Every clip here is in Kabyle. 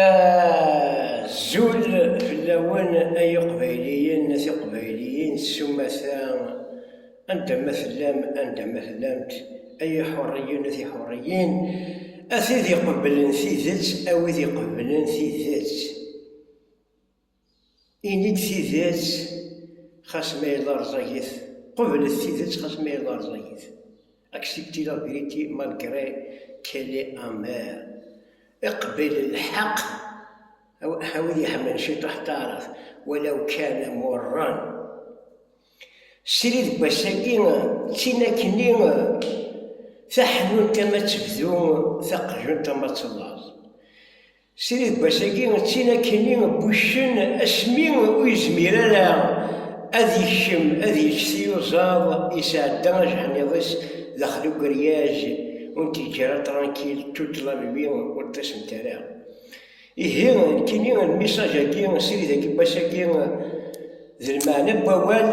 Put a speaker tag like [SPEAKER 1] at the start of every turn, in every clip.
[SPEAKER 1] Azul fell-awen ay iqbayliyen, tiqbayliyin, s umata, anda ma tellam, anda ma tellamt, ay iḥurriyen, tiḥurriyin, a tid iqebblen tidet, a wid iqebblen tidet. Ini-d tidet xas ma yella rẓagit, qeblet tidet xas ma yella rẓagit, acceptez la vérité malgré qu'elle est amère, iqbel lḥeq a wid iḥemmlen ciṭuḥ taɛrabt walaw kana murran. Srid deg wass-agi d tin akkenni, taḥnunt ama ad tebdu, taqjunt ama ad tellaẓ. Srid Basagi d tin akkenni n wuccen asmi ur yezmir ara ad yekcem ad yečč tiyuẓaḍ, yesɛedda ajeḥniḍ-is daxel ugeryaj, ur n-t-yeǧǧara trankil toute la nuit, ur ṭṭisent ara. Ihi, nekkini lmisaj-agi n Srid Akibas-agi d lmeɛna n wawal,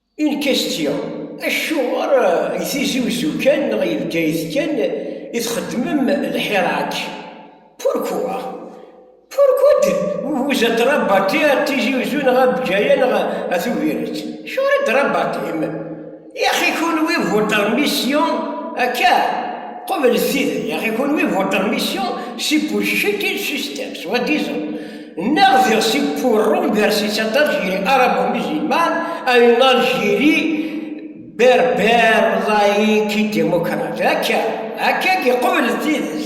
[SPEAKER 1] Une question, Acuɣer deg Tizi Uzzu kan neɣ deg Bgayet kan i txeddmem lḥirak? Pourquoi? Pourquoi de vous êtes rabatté à Tizi Uzzu neɣ à Bgaya neɣ à Tubiret? Acuɣer i d-rabaṭim? Yaxi kunwi votre mission akka? Qeblet tidi, yaxi kunwi votre mission c'est pour jeter le système, soi-disant. Nneɣ diɣ si purrum bersitsatar jiri arabo-musulman a une Algérie berbère laïque et démocrate. Akka, akka giqubel d tidet.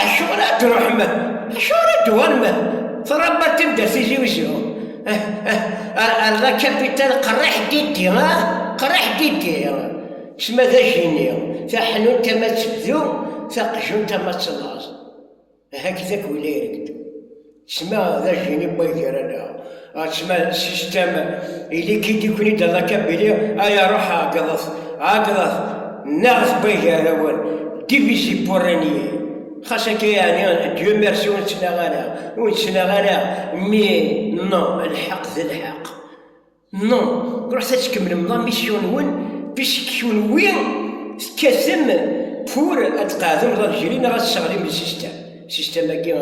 [SPEAKER 1] Acuɣer ad d-ruḥ meh? Acuɣer ad d-uɣal meh? Tṛabba tibder Tizi Uzzu. Eh, eh, ar, ar la capitale qerriḥ diddi, ah, qerriḥ diddi. Sma d ajini, taḥnunt ama tebdu, taqjunt ama tellaẓ. Hakit-ak win ay reg-d. Ssma d ajjini n way gar-aneɣ. Ssma system ili-k i d-ikun-id Allah kabili ay aruḥ ɛeggḍet, ɛeggḍet, nnaɣet n way gar-awen, divisé pour régner. Xas akka yeɛni Dieu merci ur nettnaɣ ara, ur nettnaɣ ara mais non lḥeqq d lḥeqq. Non, ruḥet ad tkemmlem la mission-nwen puisque kenwi tekkatem pour ad tqeɛdem l'Algérie neɣ ad tesseɣlim le système. Système-agi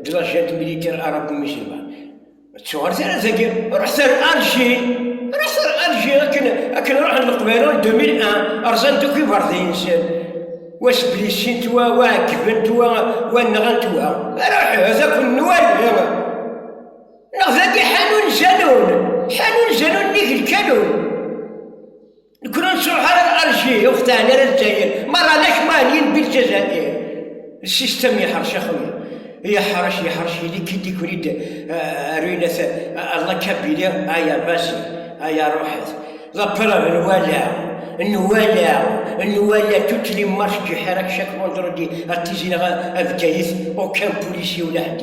[SPEAKER 1] de la junte militaire arabo-musulmane. Ma ttuɣret ara dagi, ruḥet ar Alger, ruḥet ar Alger akken akken ruḥen Leqbayel en 2001, rzan-d akk iberḍi-nsen, wa sblissint, wa wa ɛeggben-t, wa wa nɣan-t, wa ruḥet ad akk nwali. Neɣ dagi ḥanun janun, ḥanun janun nnig lkanun. Nekkni ur nettruḥ ara ar Alji, ur xtaɛen ara Lezzayer, merra d akman yelbi Lezzayer. Lsistem yeḥṛec axwi, yeḥṛec, yeḥṛec, yili-k-id iken-id ruynet Allah kabili, aya basi, aya ruḥet. D apeṛṛeb n wala, n wala, n wala, toutes les marches du Hirak chaque vendredi à Tizi Neɣ a Bgayet, aucun policier ula ḥedd.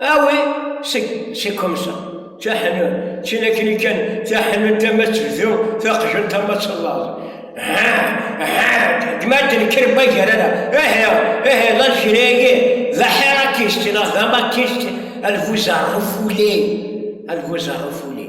[SPEAKER 1] Awi, seg, c'est comme ça. Taḥnut, d tin akken i kan, taḥnut ama tebdu, taqjunt ama tellaẓ. Ha, ha, gma d-nekker ma gar-ara. Ihi, ihi, d aljiri-agi, d aḥirakist, neɣ d amakist, alguz arrufuli, alguz arrufuli.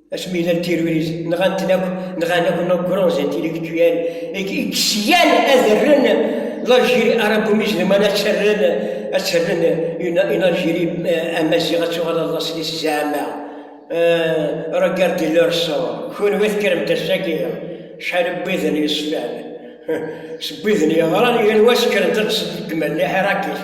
[SPEAKER 1] asmi i llan tiruris nɣan-ten akk nɣan akk no grons intellectuels i ksyan ad rren l'Algérie arabumiz d mana ttarren ad ttarren une Algérie euh, amaziɣ ad tuɣal ad laṣel-is zeɛma euh, regarde leur sort kunwi tekkrem-d ass-agi cḥal n widen yeṣfan s widen yeɣran yal wa sekkren-d ad ddmen liḥirakit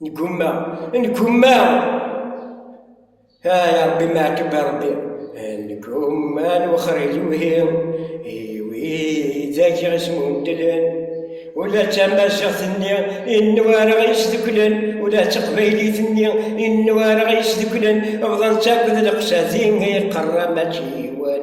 [SPEAKER 1] Neggumma, neggumma, ay Ṛebbi meɛtub a Ṛebbi, neggumma ad nwexxer iluhi i wid i ɣ-ismundlen, ula d tamaziɣt-nni i newwara isduklen, ula d taqbaylit-nni i newwara isduklen, bḍan-tt akk d leqsadi i iqerra mačči yiwen.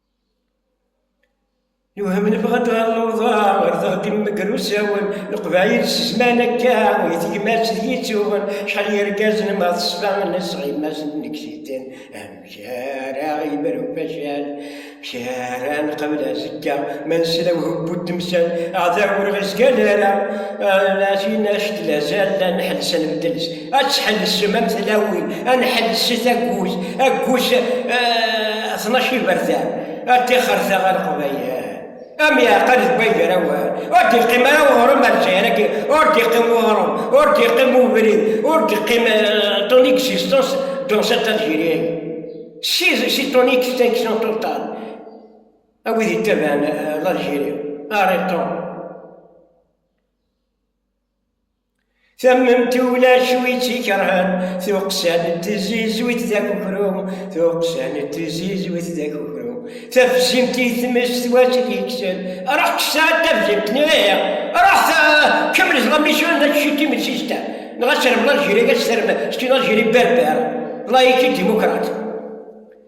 [SPEAKER 1] Newhem nebɣa ad ɣer lewḍa, ɣer teɣdim megr usawen, leqbayel s zman akka, i tegmat d yittuɣen, cḥal n yergazen ma teṣfa nesɣimasen n ksiten, amek ara ɣimru facal, amek ara nqabel azekka, ma nesla uhebbu d temsal, aɛdaw ur ɣ-izgal ara, ɛacin actel azal, ad nḥelles ad nbeddel. ad tḥellsem am tlawin, ad nḥelleset aggus, aggus eh, tnac iberdan, ad tixerta ɣer Leqbayel. Am yeɛqal deg wagrawan, ur d-yeqqim ara uɣrum ar Lezzayer-agi, ur d-yeqqim uɣrum, ur d-yeqqim ubrid, ur d-yeqqim eh, ton existence dans cette Algérie. Si, si ton extinction totale, a wid yettabaɛen eh, l'Algérie, arrêtons. Tammemt ulac wi tt-ikerhen, tuqqsa n tzizwit d akukru, tuqqsa n tzizwit d akukru. Tafzimt i tmes twat i t-yekksen, ruḥ kkes-d tafzimt-nni, ruḥ kemmel ẓlammi-s ur nečč i timetti-s, neɣ ad terbeḍ Algérie, ad terbeḍ, c'est une Algérie berbère, laïque et démocrate.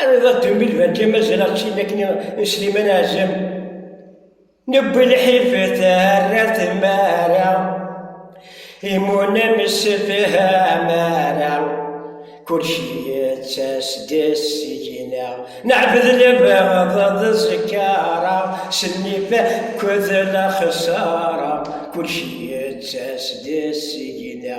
[SPEAKER 1] Arreḍ ad d-yumi lberka mazal ad ɣ-tt-in akken i Sliman Ɛazem. Nebbi lḥif terra tmara, imunam sefhamara, kulci yettas-d seg-ina. Neɛbed lebɣeḍ d zkara, s nnif akked lexsara, kulci yettas-d seg-ina.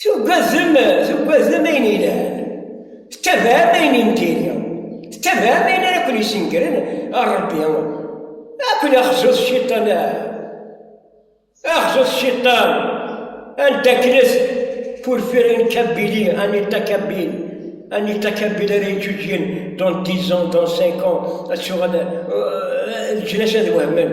[SPEAKER 1] Tugadem, tugadem ayen yelhan, tettabaɛem ayen n diri, tettabaɛem ayen ara ken-isengren ɣer Rebbi. Ad ken-axzut cciṭan, axzut cciṭan, anda akken ad purfirin Kabili, Anita Kabil, Anita Kabil ara yeǧǧuǧgen dans dix ans, dans cinq ans, ad tuɣal, leǧnas ad wehmen.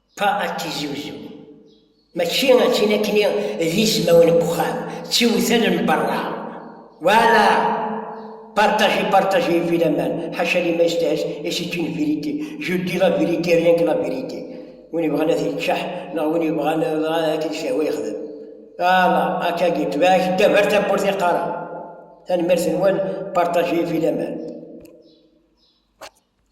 [SPEAKER 1] Pa ad tiziwziw, mačči ad tili akni d ismawen n uxxam, d tiwtal n berra. Wala! Partager, partager et fil aman, ḥaca liman yestahaz et c'est une vérité. Je dis la vérité, rien que la vérité. Win yebɣan ad t-yeččeḥ, neɣ win yebɣan dɣa akken t-yehwa yexdem. Ala, akka gi, tbeɛk ddaw ar tawwurt i qqareɣ. Tanemmirt-nwen, partager et fil aman.